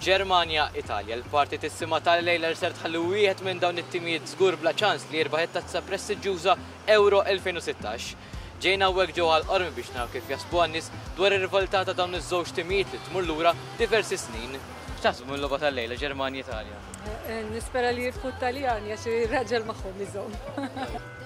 Ġermanja, Italja, l-parti tissima tal-lejler ser tħalli wieħed minn dawn it-timijiet żgur bla ċans li jirbaħ it-tazza prestiġjuża Euro 2016. Ġejna hawnhekk ġewwa l-qormi biex naraw kif jasbu għan-nies dwar ir-rivaltà ta' dawn iż-żewġ timijiet li tmur lura diversi snin. X'taħsbu mill-logħba tal-lejla Ġermanja Italja? Eh, eh, nispera li jirfu t-Taljan għax ir-raġel magħhom iżomm.